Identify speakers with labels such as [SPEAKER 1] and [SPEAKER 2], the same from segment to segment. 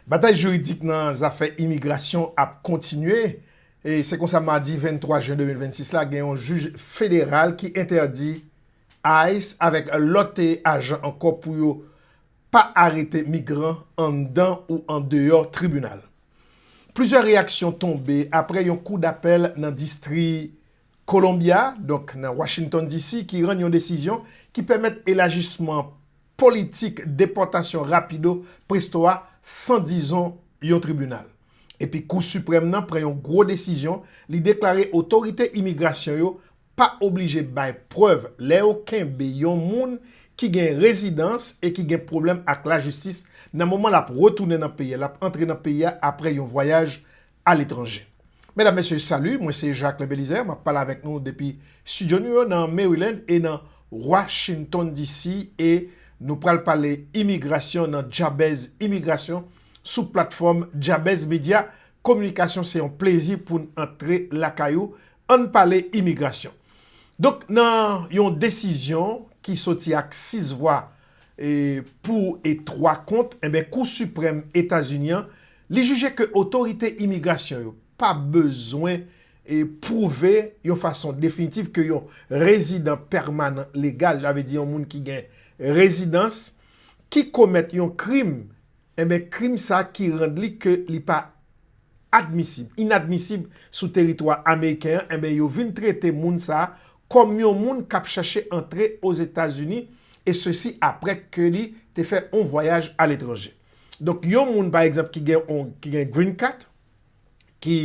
[SPEAKER 1] Batay jiridik nan zafè imigrasyon ap kontinye, e se konsa madi 23 jen 2026 la gen yon jij federal ki entèdi ice avèk lòt ajan ankò pou yo pa arete migran anndan ou andeyò tribinal. Plizyè reyaksyon tonbe apre yon kou dapèl nan distri Columbia, donk nan Washington DC, ki rann yon desizyon ki pèmèt elajisman politik depòtasyon rapido presto a san dizon yon tribinal. Epi Kou Siprèm nan pran yon gwo desizyon, li deklare otorite imigrasyon yo pa oblije bay prèv lè yo kenbe yon moun ki gen rezidans e ki gen pwoblèm ak lajistis nan moman l ap retounen nan peyi a, l ap antre nan peyi a apre yon vwayaj a letranje. Medam, Mesye, salut, mwen se Jacques Belizaire, map pale avèk nou depi studio nou yo nan Maryland e nan Washington DC e nou pral pale imigrasyon nan Djabèz Imigrasyon sou platfòm Djabèz Media Kominikasyon se yon plezi poun antre lakay ou ann pale imigrasyon. Donk nan yon desizyon ki soti ak 6 vwa pou e 3 kont, enben Kou Siprèm Etazini an, li jije ke otorite imigrasyon yo pa bezwen pwouve yon fason definitif ke yon rezidan pèmanan legal, sa vle di yon moun ki gen rezidans, ki komèt yon krim, enben krim sa ki rand li ke li pa admisib, inadmisib sou teritwa ameriken an, enben yo vin trete moun sa kòm yon moun kap chache antre Ozetazini e sesi aprè ke li te fè on vwayaj a letranje. Donk yon moun pa egzanp ki gen on ki gen green cat, ki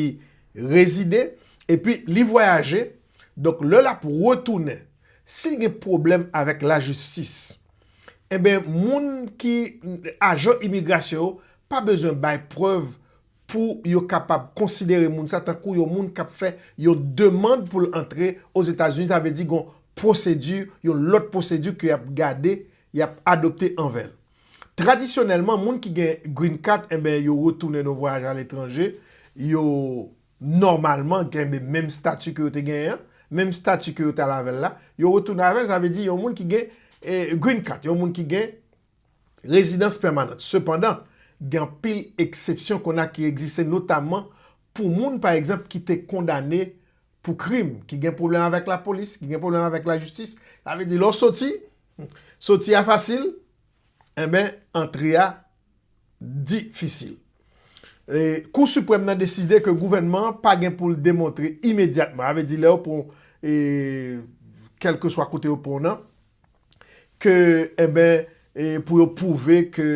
[SPEAKER 1] rezide epi li vwayaje, donk lè lap retounen, sil gen pwoblèm avèk lajistis, enben moun ki ajan imigrasyon yo pa bezwen bay prèv pou yo kapab konsidere moun sa tankou yon moun k ap fè yon demand pou l antre Ozetazini, sa vle di gon pwosedi, yon lòt pwosedi ke y ap gade, y ap adopte anvè l. Tradisyonèlman, moun ki gen Green Card, enben yo retounen nan yon vwayaj aletranje, yo nòmalman kenbe menm stati ke yo te genyen an, menm stati ke yo t al avè l la, yo retounen avè l, sa vle di yon moun ki gen Green Card, yon moun ki gen. Rezidans pèmanant. Sepandan, gen anpil eksepsyon kona ki egziste notamman pou moun pa egzanp ki te kondane pou krim, ki gen pwoblèm avèk lapolis, ki gen pwoblèm avèk lajistis, sa vle di lè w soti, soti a fasil, enben antre a difisil. Kou Siprèm nan deside ke gouvènman an pa gen pou l demontre imedyatman, sa vle di lè yo pran w kèlkeswa kote yo pran w nan, ke enben pou yo pwouve ke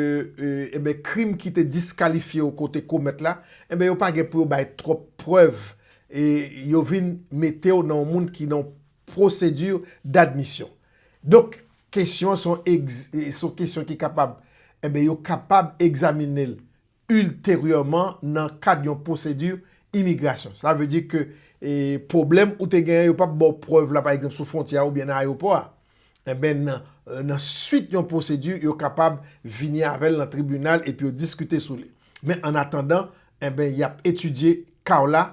[SPEAKER 1] enben krim ki te diskalifye ou ke ou te komèt la enben yo pa gen pou yo bay twòp prèv e yo vin mete ou nan yon moun ki nan yon pwosedi d'admisyon. Donk kesyon an se yon kesyon ki kapab enben yo kapab egzamine l. Ulterièman nan kad yon pwosedi imigrasyon. Sa vle di ke pwoblèm ou te genyen yo pap baw prèv la pa egzanp sou fwontyè a oubyen nan ayewopò a. Enben nan swit yon pwosedi yo kapab vini avèl nan tribinal epi yo diskite sou li. Men an atandan enben yap etidye ka w la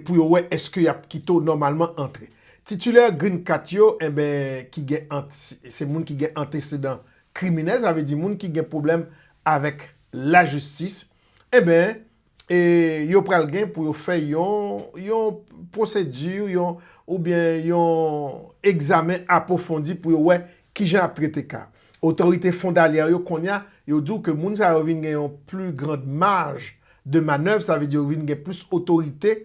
[SPEAKER 1] pou yo wè eske y ap kite w nòmalman antre. Titilè Green Cat yo, enben, ki gen ant, se moun ki gen antesedan kriminèl, sa vle di moun ki gen pwoblèm avèk lajistis, enben, e yo pral gen pou yo fè yon, yon pwosedi, yon, oubyen yon egzamen apwofondi pou yo wè kijan y ap trete ka a. Otorite fondalyè yo kounye a, yo di w ke moun sa yo vin gen yon pli grand maj de manèv, sa vle di yo vin gen plis otorite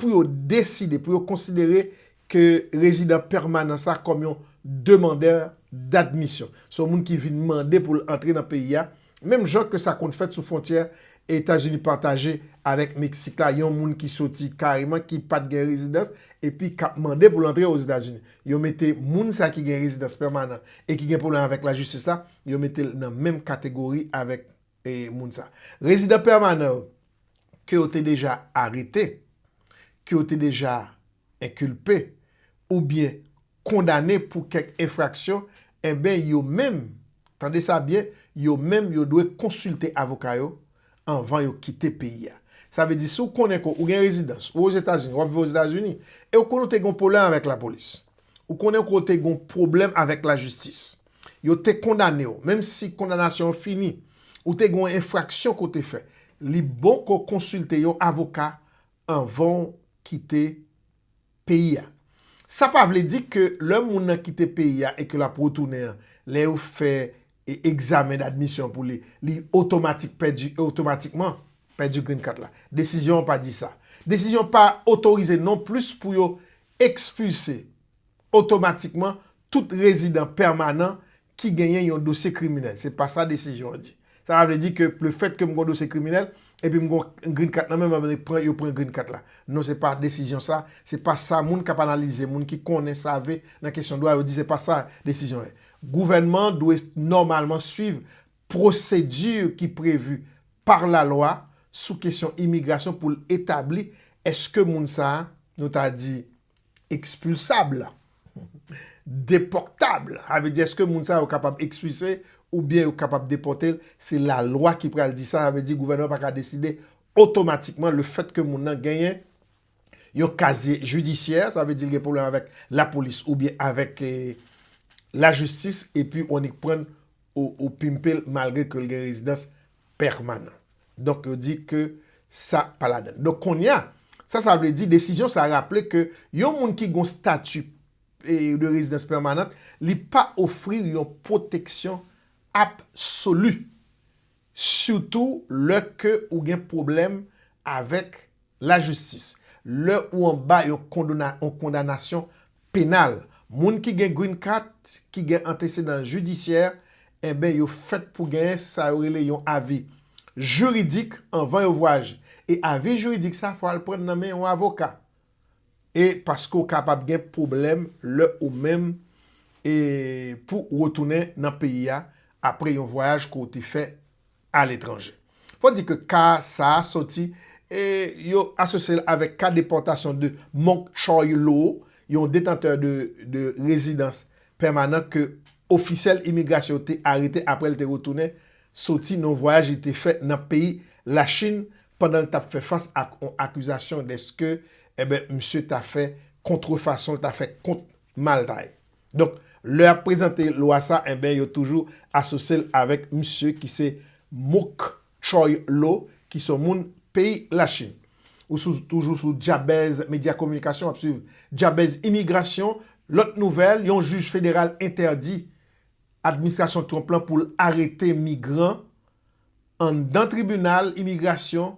[SPEAKER 1] pou yo deside, pou yo konsidere ke rezidan pèmanan sa kòm yon demandè d'admisyon. Se yon moun ki vin mande pou l antre nan peyi a, Menm jan ke sa konn fèt sou fwontyè Etazini pataje avèk Meksik la, yon moun ki soti kareman ki pat gen rezidans epi k ap mande pou l antre Ozetazini, yo mete moun sa ki gen rezidans pèmanan e ki gen pwoblèm avèk lajistis la, yo mete l nan menm kategori avèk moun sa. Rezidan pèmanan yo ke yo te deja arete, ke yo te deja enkilpe oubyen kondane pou kèk enfraksyon, enben yo menm, tande sa byen, yo menm yo dwe konsilte avoka yo anvan yo kite peyi a. Sa vle di si w konnen ke ou gen rezidans, ou Ozetazini, w ap viv Ozetazini, e ou konnen w te gen yon pwoblèm avèk lapolis, ou konnen ke w te gen yon pwoblèm avèk lajistis, yo te kondane w, menm si kondanasyon an fini, ou te gen yon enfraksyon ke w te fè, li bon ke w konsilte yon avoka anvan w kite peyi a. Sa pa vle di ke lè moun nan kite peyi a e ke l ap retounen an, lè yo fè egzamen d'admission pou li, li otomatik pèdi, otomatikman pèdi green card la. Desizyon an pa di sa. Desizyon an pa otorize non plis pou yo ekspilse otomatikman tout rezidan pèmanan ki genyen yon dosye kriminèl. Se pa sa desizyon an di. Sa pa vle di ke lefèt ke m gen yon dosye kriminèl, epi m gen yon green card nan men m, yo pran green card la. Non se pa desizyon sa, se pa sa moun k ap analize, moun ki konnen, save nan kesyon dwa yo di se pa sa desizyon an ye. Gouvènman an dwe nòmalman swiv pwosedi ki previ par la lwa sou kesyon imigrasyon pou l etabli èske moun sa a, nou ta di, Expulsable, deportable, sa vle di eske moun sa yo kapab expulse oubyen yo kapab depote l, se lalwa ki pral di sa, sa vle di gouvènman pa ka deside otomatikman le fèt ke moun nan genyen yon kazye jidisyè, sa vle di l gen pwoblèm avèk lapolis oubyen avèk lajistis epi w annik pran l ou pimpe l malgre ke l gen rezidans pèmanan. Donk yo di ke sa pa ladan l. Donk kounye a, sa sa vle di, desizyon sa raple ke yon moun ki gen yon stati de rezidans pèmanan, li pa ofri yon pwoteksyon absoli, sitou lè ke ou gen pwoblèm avèk Lajistis. Lè ou anba yon kondona yon kondanasyon penal, moun ki gen Green Card ki gen antesedan jidisyè enben yo fèt pou genyen sa yo rele yon avi jiridik anvan yo vwayaje. E avi jiridik sa fò al prann nan men yon avoka. E paske ou kapab gen pwoblèm lè ou menm e pou retounen nan peyi a apre yon vwayaj ke w te fè aletranje. Fò di ke ka sa a soti e yo asosye l avèk ka depòtasyon de Mok Choy Lo, yon detantè de rezidans pèmanan ke ofisyèl imigrasyon yo te arete apre l te retounen soti nan yon vwayaj li te fè nan peyi Lachin pandan l t ap fè fas ak yon akizasyon deske misye ta fè kontrefason, l ta fè kont maltay. Donk lè yap prezante lwa sa enben yo toujou asosyel avèk misye ki se Mouk Chòy Lo ki son moun peyi Lachin. Ou sou toujou sou Djabèz Medya Kominikasyon wap swiv Djabèz Imigrasyon, lòt nouvèl yon jij federal entèdi administrasyon Trump lan poul arete migran anndan tribinal imigrasyon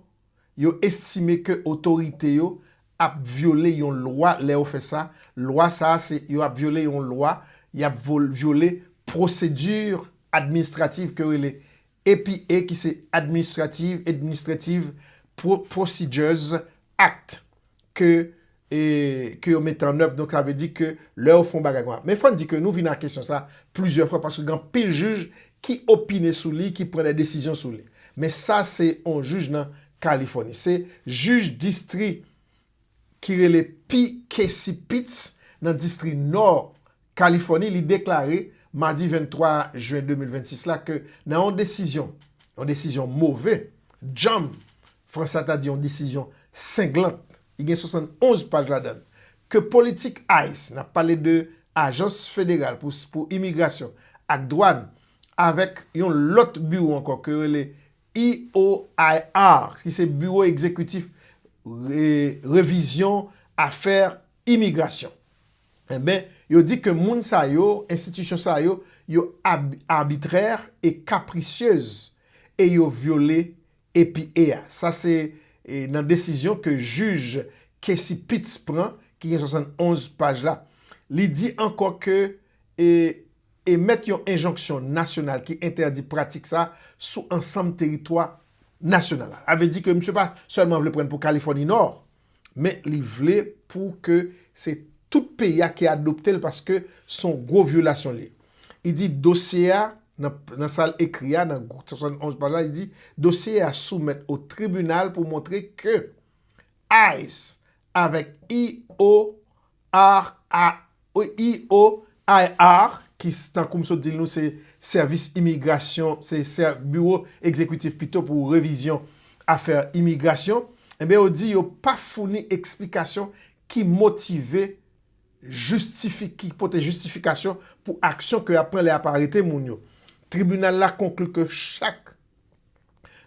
[SPEAKER 1] Yo estime ke otorite yo ap vyole yon lwa lè yo fè sa, lwa sa a se yo ap vyole yon lwa, y ap vyole pwosedi administratif ke yo rele APA ki se Administrative, Administrative Procedures Act. ke ke yo mete an èv, donk sa vle di ke lè yo fè yon bagay konsa. Men fò n di ke nou vin a kesyon sa plizyè fwa paske gen anpil jij ki opine sou li, ki pran dè desizyon sou li. Men sa se yon jij nan Kalifòni. Se jij distri ki rele P. Casey Pitts nan distri Nò Kalifòni, li deklare madi 23 jen 2026 la ke nan yon desizyon, yon desizyon move, djanm, fransè a ta di yon desizyon senglant, li gen 71 paj ladan l, ke politik ice, n ap pale de ajans federal pou imigrasyon ak dwàn, avèk yon lòt biwo ankò ke yo rele EOIR, ki se biwo egzekitif revizyon afè imigrasyon. Enben, yo di ke moun sa yo, enstitisyon sa yo, yo arbitraire et capricieuse e yo vyole EPA a. Sa se nan desizyon ke jij Kessy Pitts pran, ki gen 71 paj la. Li di ankò ke e emèt yon enjonksyon nasyonal ki entèdi pratik sa sou ansanm teritwa nasyonal la. Sa vle di ke misye pa sèlman vle pran pou Californie Nord, men li vle pou ke se tout peyi a ki adopte l paske s on gwo vyolasyon li. Li di dosye a, nan sa l ekri a, nan 71 paj la, li di dosye a soumèt o tribinal pou montre ke ice avèk IO Ar, a, o, i, o, IR, ki tankou m sot di l nou se sèvis imigrasyon, se sè biwo egzekitif pito pou revizyon afè imigrasyon, enben yo di yo pa founi eksplikasyon ki motive, jistifi, ki pote jistifikasyon pou aksyon ke y ap pran lè y ap arete moun yo. Tribinal la konkli ke chak.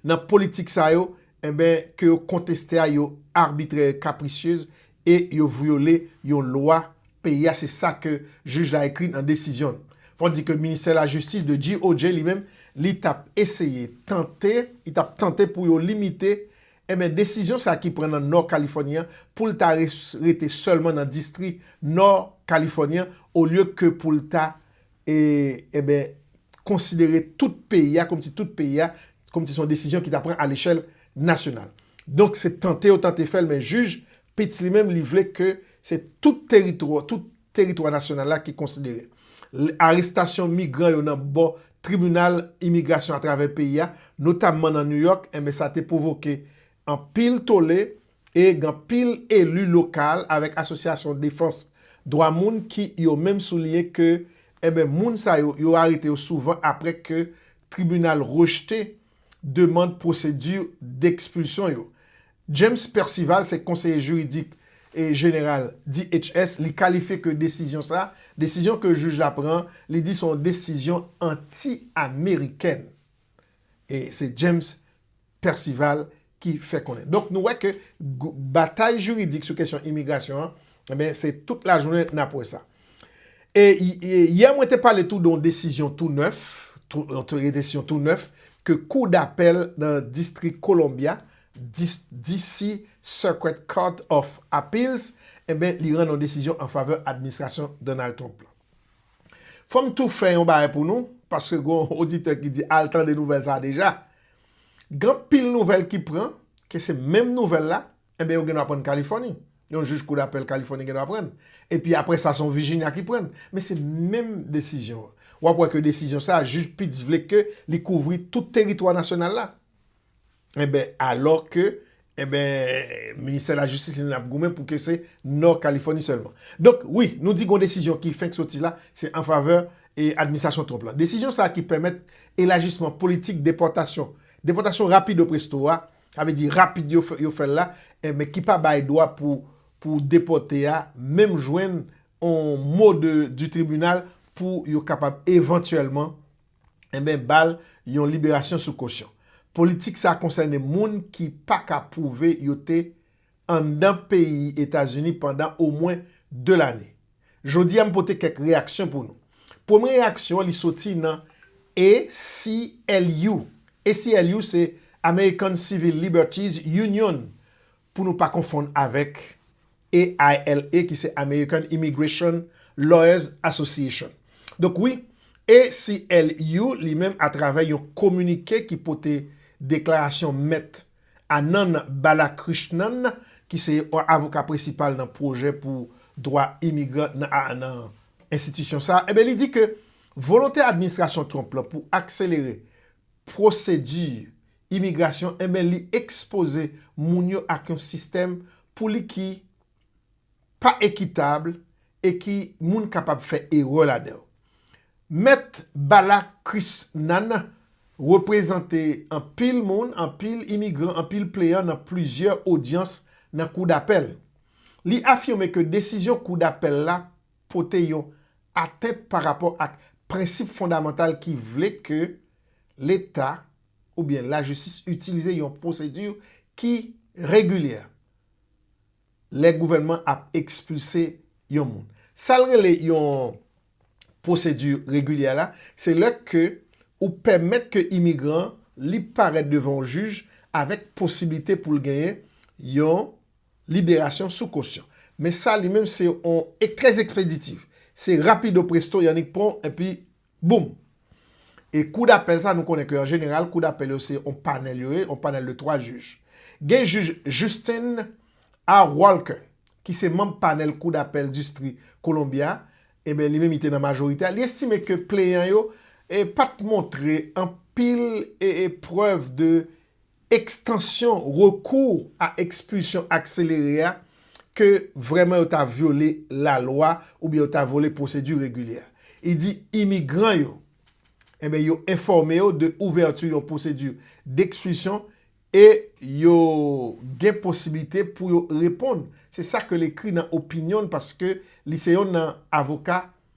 [SPEAKER 1] nan politik sa yo enben ke yo konteste a yo arbitrè e capricieuse e yo vyole yon lwa peyi a se sa ke jij la ekri nan desizyon l. Fò di ke ministè lajistis de GOJ li menm li t ap eseye tante li t ap tante pou yo limite enben desizyon sa ki pran nan Nò Kalifòni an pou l ta rete sèlman nan distri Nò Kalifòni an olye ke pou l ta E, enben, konsidere tout peyi a kòmsi tout peyi a, kòmsi se yon desizyon ki ta pran alechèl nasyonal. Donk, se tante yo tante fè l, men jij Pitts li menm, li vle ke se tout teritwa, tout teritwa nasyonal la ki konsidere. L, arestasyon migran yo nan bò tribinal imigrasyon atravè peyi a, notamman nan New York, enben sa te pwovoke anpil tole, E gen anpil eli lokal avèk asosyasyon defans dwa moun ki yo menm souliyen ke enben moun sa yo, yo arete yo souvan aprè ke tribinal rejte demand pwosedi dekspilsyon yo. James Percival se konseye jiridik jeneral DHS, li kalifye ke desizyon sa, desizyon ke jij la pran, li di se yon desizyon anti-amerikèn. E se James. Percival ki fè konnen. Donk nou wè ke batay jiridik sou kesyon imigrasyon an, enben se tout lajounen nap wè sa. E yè mwen te pale tou don desizyon tou nèf, yon desizyon tou nèf ke kou dapèl nan distrik Columbia, DC Circuit Court of Appeals, enben li rann yon desizyon an favè administrasyon Donald Trump lan. Fòm tou fè yon bagay pou nou, paske gon oditè ki di al tande nouvèl sa deja. Gen anpil nouvèl ki pran, ke se menm nouvèl la, enben yo gendwa prann Kalifòni. Yon jij kou dapèl Kalifòni gendwa prann. Epi apre sa se yon Vijinya ki prann. Men se menm desizyon an. Wap wè ke desizyon sa jij Pitts vle ke li kouvri tout teritwa nasyonal la. Enben, alò ke, enben, Ministè Lajistis li menm ap goumen pou ke se Nò Kalifòni sèlman. Donk, wi, nou di gon desizyon ki fenk soti la, se an favè e administrasyon Trump la. Desizyon sa a ki pèmèt elajisman politik depòtasyon, depòtasyon rapido presto a, sa vle di rapid yo fè, yo fè l la, enben, ki pa bay dwa pou, pou depòte a menm jwenn on mot de, du tribunal pou yo kapab evantyèlman, enben ba l yon liberasyon sou kosyon. Politik sa konsène moun ki pa ka pwouve yo te anndan peyi Etazini pandan omwen 2 lane. Jodi a m pote kèk reyaksyon pou nou. Premye reyaksyon an li soti nan ACLU. ACLU se American Civil Liberties Union pou nou pa konfonn avèk AILA ki se American Immigration Lawyers Association. Donk wi, ACLU li menm atravè yon kominike ki pote deklarasyon mèt Anand Balakrishnan ki se yon avoka prensipal nan pwojè pou dwa imigran nan a nan enstitisyon sa a, enben li di ke volonte administrasyon Trump lan pou akselere pwosedi imigrasyon enben li ekspoze moun yo ak yon sistèm pou li ki pa ekitab e ki moun kapab fè erè ladan yo. Mèt Bala Krisnan reprezante anpil moun, anpil imigran, anpil pleyan nan plizyè odyans nan kou dapèl. Li afime ke desizyon kou dapèl la pote yon atent pa rapò ak prensip fondamantal ki vle ke leta oubyen lajistis itilize yon pwosedi ki regilyè lè gouvènman ap ekspilse yon moun. Sa l rele yon pwosedi regilyè la, se lè ke ou pèmèt ke imigran an li parèt devan yon jij avèk posiblite pou l genyen yon liberasyon sou kosyon. Men sa li menm se yon trè ekspeditif. Se rapido presto yannik pon epi Boom! E kou dapèl sa nou konnen ke an jeneral kou dapèl yo se yon panèl yo ye, yon panèl de 3 jij. Gen jij Justin A. Walker ki se manb panèl kou dapèl distri Columbia, enben li menm li te nan majorite a, li estime ke pleyan yo pat montre anpil prèv de ekstansyon rekou a ekspilsyon akselere a ke vrèman yo ta vyole lalwa oubyen yo ta vyole pwosedi regilyè. I di imigran yo enben yo enfòme yo de ouvèti yon pwosedi dekspilsyon e yo gen posiblite pou yo reponn. Se sa ke l ekri nan opinyon l paske li se yon nan avoka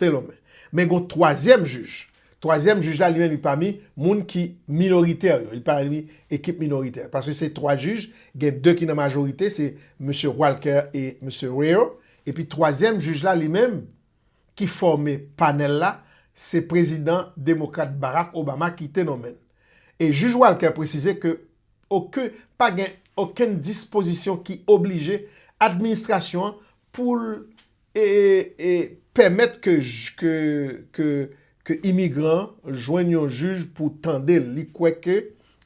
[SPEAKER 1] Thelome. Men gon twazyèm jij. Twazyèm jij la li menm li pami moun ki minoritè yo. Li pami ekip minoritè. Paske se twa jij, gen de ki nan majorite, se Mesye Walker e Mesye Reyo. Epi twazyèm jij la li menm ki fòme panèl la, se prezidan demokrat Barack Obama ki te nonmen l. E jij Walker presize ke oken, pa gen okenn dispozisyon ki oblije administrasyon an pou l e pèmèt ke imigran an jwenn yon jij pou tande l, li kwè ke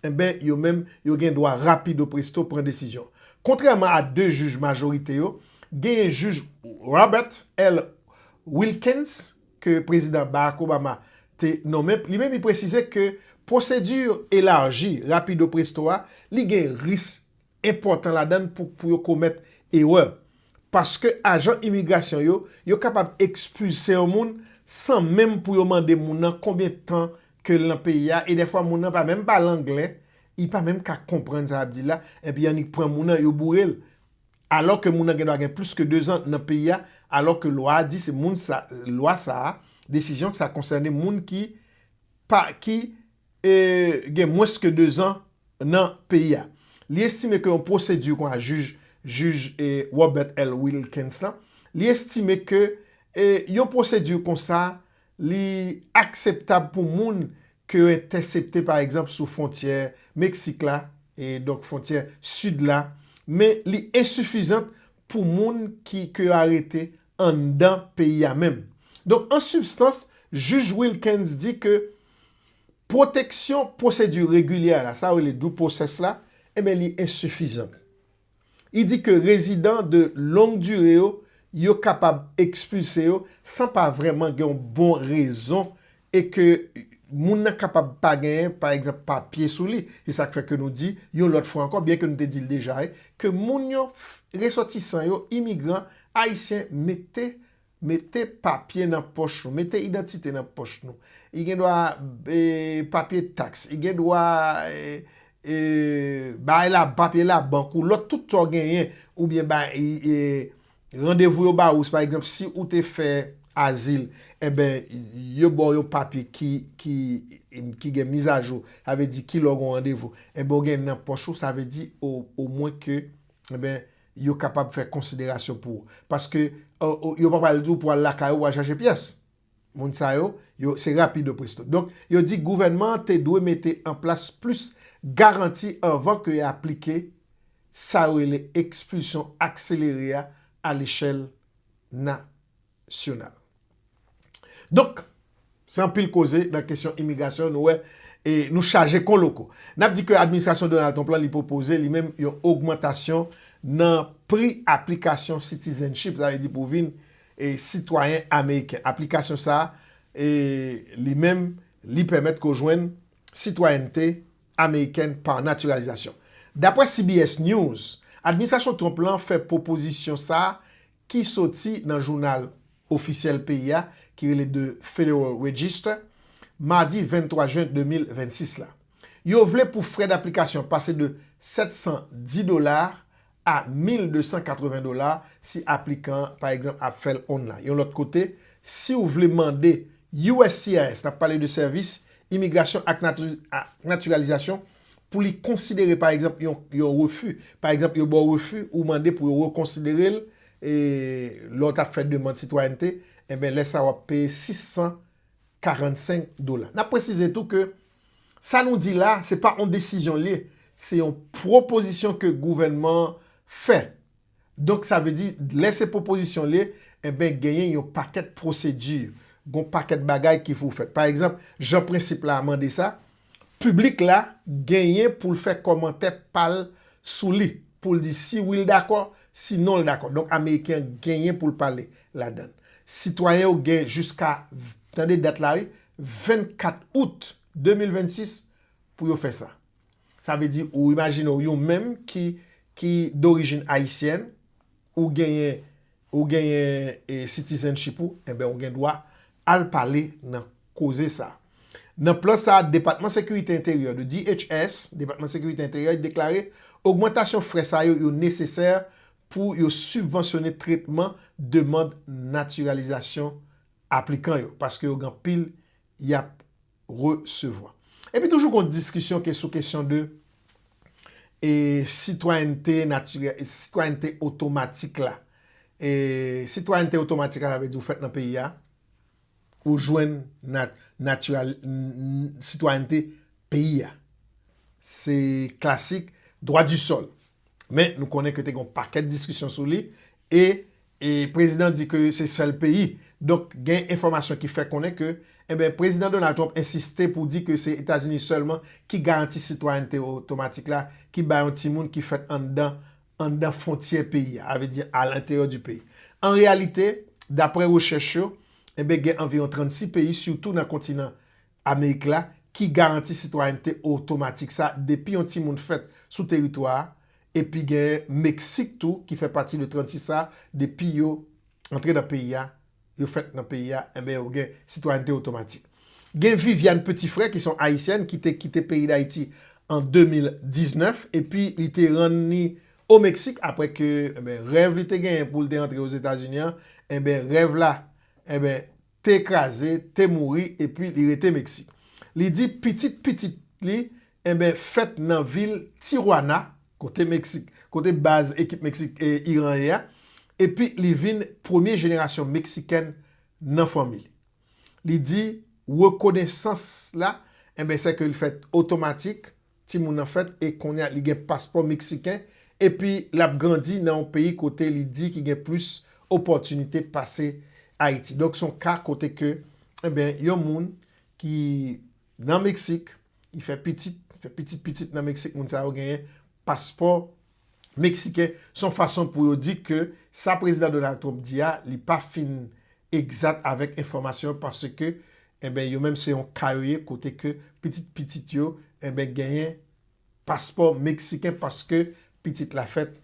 [SPEAKER 1] enben yo menm yo gen dwa rapido presto pran desizyon. Kontrèman a 2 jij majorite yo, genyen jij Robert L. Wilkens ke Prezidan Barack Obama te nonmen, li menm li presize ke pwosedi elaji rapido presto a li gen risk enpòtan ladan l pou pou yo komèt erè. Paske ajan imigrasyon yo, yo kapab ekspilse yon moun san menm pou yo mande moun nan konbyen tan ke l nan peyi a e dèfwa moun nan pa menm pale angle, li pa menm ka konprann sa y ap di l la, enpi annik pran moun nan yo boure l. Alò ke moun nan gendwa gen plis ke dezan nan peyi a, alò ke lwa a di se moun sa, lwa sa a, desizyon sa konsène moun ki pa, ki gen mwens ke 2 zan nan peyi a. Li estime ke yon pwosedi kon a jij jij Robert L. Wilkens la, li estime ke yon pwosedi kon sa li akseptab pou moun ke yo entèsepte pa egzanp sou fwontyè Meksik la, e donk fwontyè sid la, men li ensifizant pou moun ki ke yo arete anndan peyi a menm. Donk an sibstans, jij Wilkens di ke Pwoteksyon pwosedi regilyè la, sa yo rele due process la, enben li ensifizan. Li di ke rezidan de long dure yo, yo kapab ekspilse yo san pa vrèman gen yon bon rezon e ke moun nan kapab pa genyen, pa egzanp, papye sou li. Se sa k fè ke nou di, yon lòt fwa ankò, byen ke nou te di l deja, ke moun yo, resòtisan yo, imigran ayisyen mete. Mete papye nan pòch nou. Mete idantite nan pòch nou. I gen dwa papye taks. I gen dwa bay la papye la bank ou. Lòt tout sa w genyen. Ou byen bay randevou yo ba ou. Si pa egzanp si ou te fè azil. E ben yo ba w yon papye ki gen mizajou. Sa vle di ki lè w gen yon randevou. E ben ou gen nan pòch ou. Sa vle di o mwen ke e ben. Yo kapab fè konsiderasyon pou ou. Paske yo pa pral di ou pou al lakay ou pou al chache pyès. Moun sa yo, yo se rapido presto. Donk, yo di gouvènman an te dwe mete an plas plis garanti anvan ke y aplike sa yo rele ekspilsyon akselere a alechèl na. entènasyonal. Donk, se anpil koze nan kesyon imigrasyon nou wè e nou chaje kon loko. N ap di ke administrasyon Donald Trump lan li pwopoze li menm yon ogmantasyon nan pri aplikasyon citizenship, sa vle di pou vin sitwayen ameriken. Aplikasyon sa a li menm li pèmèt ke w jwenn sitwayènte amerikèn pa natiralizasyon. Dapre CBS News, administrasyon Trump lan fè pwopozisyon sa a ki soti nan jounal ofisyèl peyi a ki rele The Federal Register, madi 23 jen 2026 la. Yo vle pou frè daplikasyon pase de 710 dola a 1,280 dola si aplikan an, pa egzanp, ap fè l online. Yon lòt kote, si w vle mande uscis, n ap pale de Sèvis Imigrasyon ak Natiralizasyon, pou li konsidere pa egzanp yon refi, pa egzanp yo ba w refi ou mande pou yo rekonsidere l e lè w t ap fè demand sitwayènte enben lè sa w ap peye 645 dola. N ap presize tou ke sa nou di la se pa yon desizyon l ye, se yon pwopozisyon ke gouvènman an fè Donk sa vle di lè se pwopozisyon l ye, enben genyen yon pakèt pwosedi, gon pakèt bagay ki pou fèt. Pa egzanp, jan prensip la a mande sa, piblik la genyen pou l fè kòmantè pa l sou li, pou l di si wi l dakò, si non l dakò. Donk ameriken an genyen pou l pale ladan. Sitwayen yo gen jiska, tande dat la wi, 24 out 2026 pou yo fè sa. Sa vle di ou imajine w yon menm ki ki dorijin ayisyèn, ou genyen ou genyen e citizenship ou, enben ou gen dwa al pale nan koze sa. Nan plan sa a Depatman Sekirite Enteryè, the DHS, Depatman Sekirite Enteryè deklare ogmantasyon frè sa yo yo nesesè pou yo sibvansyone tretman demand natiralizasyon aplikan yo, paske yo gen anpil y ap resevwa. Epi toujou gon diskisyon ke sou kesyon de e sitwayènte natirè, sitwayènte otomatik la. E sitwayènte otomatik la sa vle di ou fèt nan peyi a, ou jwenn nat, natiral, sitwayènte peyi a. Se klasik dwa di sòl. Men nou konnen ke te gon pakèt diskisyon sou li e E prezidan di ke se sèl peyi. Donk gen enfòmasyon ki fè konnen ke enben Prezidan Donald Trump ensiste pou di ke se Etazini sèlman ki garanti sitwayènte otomatik la ki ba yon timoun ki fèt anndan anndan fwontyè peyi a, avle di a l'intérieur du pays. An reyalite, daprè rechèch yo, enben gen anviwon 36 peyi sitou nan kontinan Amerik la, ki garanti sitwayènte otomatik sa depi yon timoun fèt sou teritwa a, epi genyen Meksik tou ki fè pati de 36 sa depi yo antre nan peyi a, yo fèt nan peyi a, enben yo gen sitwayènte otomatik. Gen Viviane Petit-Frère ki se yon Ayisyèn ki te kite peyi Dayiti an 2019 epi li te rann ni o Meksik apre ke, enben, rèv li te genyen pou l te antre Ozetazini an, enben, rèv la, enben, te kraze, te mouri epi li rete Meksik. Li di pitit pitit li enben fèt nan vil Tijuana, kote Meksik, kote baz ekip Meksik e Iran ye a, epi li vin premye jenerasyon Meksikèn nan fanmi li. Li di rekonesans la enben sè ke l fèt otomatik, Timoun nan fèt e kounye a li gen paspò meksiken epi l ap grandi nan yon peyi kote li di ki gen plis opòtinite pase Ayiti. Donk se yon ka kote ke enben yon moun ki nan Meksik, li fè pitit, li fè pitit pitit nan Meksik, moun sa yo genyen paspò. Meksiken se yon fason pou yo di ke sa Prezidan Donald Trump di a li pa fin egzat avèk enfòmasyon paske enben yo menm se yon ka yo ye kote ke pitit pitit yo enben genyen paspò Meksiken paske pitit la fèt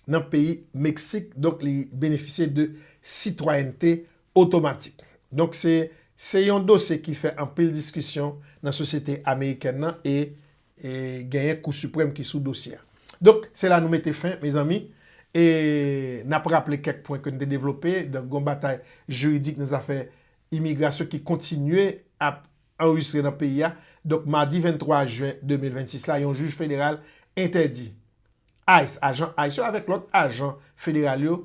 [SPEAKER 1] nan peyi Meksik donk li benefisye de sitwayènte otomatik. Donk se se yon dosye ki fè anpil diskisyon nan sosyete amerikèn nan e E genyen kou siprèm ki sou dosye a. Donk, se la nou mete fen, mezanmi. E n ap raple kèk pwen ke n te devlope. Donk, gon batay jiridik nan zafè imigrasyon ki kontinye ap anrejistre nan peyi a. Donk, madi 23 jen 2026 la, yon jij federal entèdi ice, ajan ice yo avèk lòt ajan federal yo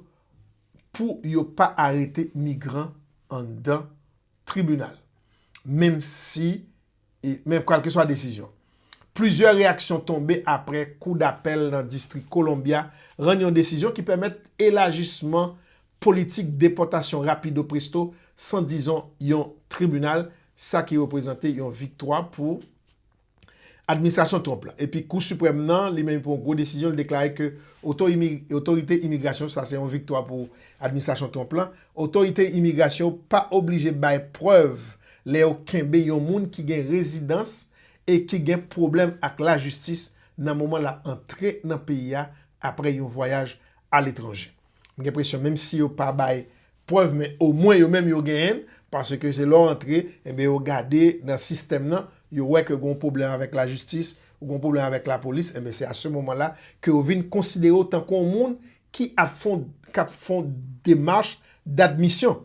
[SPEAKER 1] pou yo pa arete migran anndan tribinal. Menm si men kalkeswa desizyon. Plizyè reyaksyon tonbe apre Kou Dapèl nan Distri Columbia rann yon desizyon ki pèmèt elajisman politik depòtasyon rapido presto san dizon yon tribinal, sa ki reprezante yon viktwa pou administrasyon Trump la. Epi Kou Siprèm nan, li menm pran yon gwo desizyon, li deklare ke otorite imigrasyon, sa se yon viktwa pou administrasyon Trump la, Otorite imigrasyon yo pa oblije bay prèv lè yo kenbe yon moun ki gen rezidans e ki gen pwoblèm ak lajistis nan moman l ap antre nan peyi a apre yon vwayaj aletranje. M gen presyon menm si yo pa bay prèv men omwen yo menm yo genyen l paske se lè w antre enben yo gade nan sistèm nan yo wè ke gen yon pwoblèm avèk lajistis ou gen yon pwoblèm avèk lapolis enben se a se moman la ke yo vin konsidere w tankou yon moun ki ap fon k ap fon demach d'admisyon.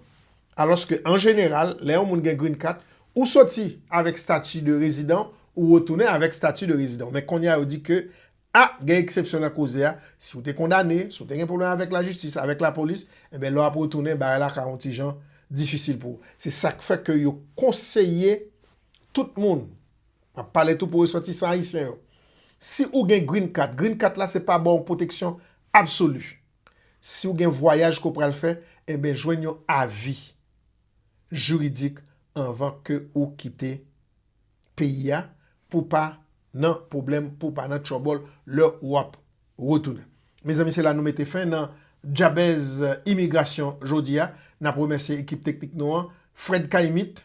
[SPEAKER 1] Alòske an jeneral, lè yon moun gen Green Card, ou soti avèk stati de rezidan, ou retounen avèk stati de rezidan. Men kounye a yo di ke a gen eksepsyon nan koze a, si ou te kondane, si ou te gen pwoblèm avèk lajistis, avèk lapolis, enben lè w ap retounen bagay la ka yon ti jan difisil pou ou. Se sa k fè ke yo konseye tout moun. M ap pale tou pou resòtisan ayisyen yo. Si ou gen Green Card, Green Card la se pa ba w pwoteksyon absoli. Si ou gen vwayaj ke w pral fè, enben jwenn yon avi jiridik anvan ke ou kite peyi a pou w pa nan pwoblèm, pou w pa nan tchòbòl lè w ap retounen. Mezanmi se la nou mete fen nan Djabèz Imigrasyon jodi a. N ap remèsye ekip teknik nou an, Fred K-Imit.